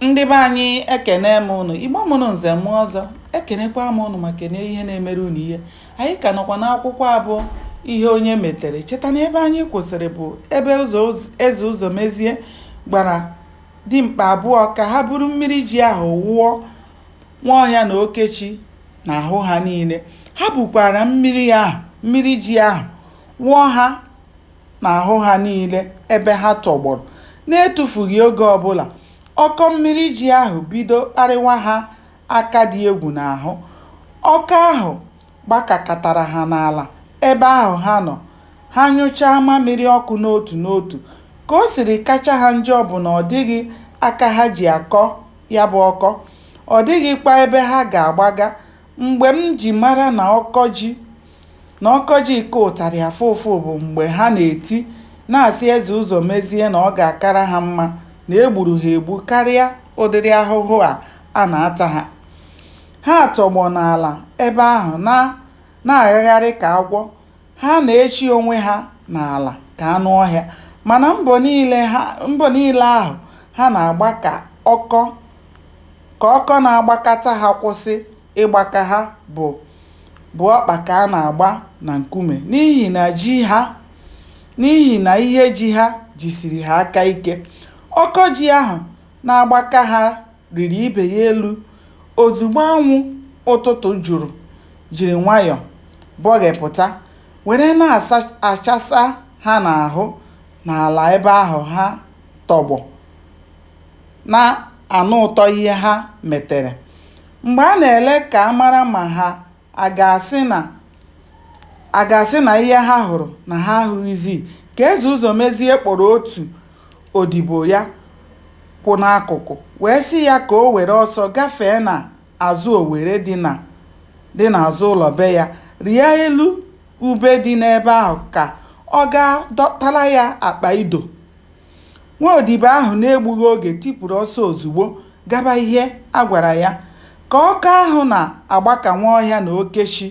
Ndị be anyị ekene m ụnụ, Igbo mụrụ nze mụ ọzọ, ekenekwa m ụnụ ma kene ihe na-emere ụnụ ihe. Anyị ka nọkwa n'akwụkwọ abụ ihe onye metere. Cheta na ebe anyị kwụsịrị bụ ebe ụzọ eze Ụzọmezie gwara dimkpa abụọ ka ha buru mmiri ji ahụ wụọ Nwaọhịa na Okechi n'ahụ ha niile. Ha bukwara mmiri ahụ mmiri ji ahụ wụọ ha n'ahụ ha niile ebe ha tọgbọrọ. N'etufughị oge ọ bụla, ọkọ mmiri ji ahụ bido kparịwa ha aka dị egwu n'ahụ. Ọkọ ahụ gbakakatara ha n'ala ebe ahụ ha nọ, ha nyụchaa mamịrị ọkụ n'otu n'otu. Ka o siri kacha ha njọ bụ na ọ dịghị aka ha ji akọ ya bụ ọkọ, ọ dịghịkwa ebe ha ga-agbaga. Mgbe m ji mara na ọkọ ji. na ọkọ ji ka ụtarị afụ ụfụ bụ mgbe ha na-eti na-asị Eze Ụzọmezie na ọ ga-akara ha mma na e gburu ha egbu karịa ụdịrị ahụhụ a a na-ata ha. Ha tọgbọ n'ala ebe ahụ na na-aghagharị ka agwọ, ha na-echi onwe ha n'ala ka anụ ọhịa. Mana mbọ niile ha mbọ niile ahụ ha na-agba ka ọkọ ka ọkọ na-agbakata ha kwụsị. ịgbaka ha bụ bụ ọkpa ka a na-agba na nkume n'ihi na ji ha n'ihi na ihe ji ha jisiri ha aka ike. Ọkọ ji ahụ na-agbaka ha rịrị ibe ya elu ozugbo anwụ ụtụtụ juru jiri nwayọ bọghepụta were na-achasa ha n'ahụ n'ala ebe ahụ ha tọgbọ na-anụ ụtọ ihe ha metere. Mgbe a na-ele ka a mara ma ha a ga-asị na a ga-asị na ihe ha hụrụ na ha ahụghịzi, ka Eze Ụzọmezie kpọrọ otu odibo ya kwụ n'akụkụ wee sị ya ka o were ọsọ gafee n'azụ owere dị n'azụ ụlọ be ya, rịa elu ube dị n'ebe ahụ ka ọ gaa dọtara ya akpa ido. Nwa odibo ahụ n'egbughị oge tipuru ọsọ ozugbo gaba ihe a gwara ya. Ka ọkọ ahụ na-agbaka Nwaọhịa na Okechi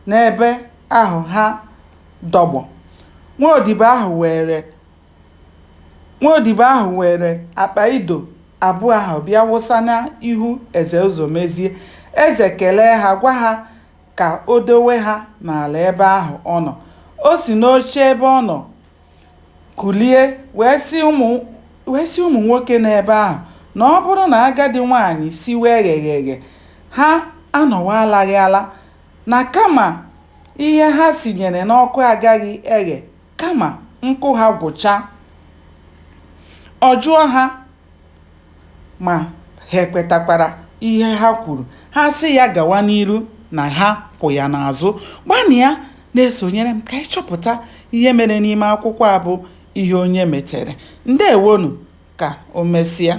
n'ebe ahụ ha dọgbọ. Nwa odibo ahụ were nwa odibo ahụ were akpa ido abụọ ahụ bịa wụsa n'ihu Eze Ụzọmezie. Eze kelee ha gwa ha ka o dowe ha n'ala ebe ahụ ọ nọ. O si n'oche ebe ọ nọ Kulie wee sị ụmụ wee sị ụmụ nwoke n'ebe ahụ na ọ bụrụ na agadi nwaanyị siwe egheghị eghe, ha anọwa alaghị ala, na kama ihe ha sinyere n'ọkụ agaghị eghe kama nkụ ha gwụchaa. Ọ jụọ ha. Ma, ha ekwetakwara ihe ha kwuru. Ha sị ya gawa n'iru na ha kwụ ya n'azụ. Gbanịa na-esonyere m ka anyị chọpụta ihe mere n'ime akwụkwọ a bụ Ihe Onye Metere. Ndewonu! Ka o mesịa.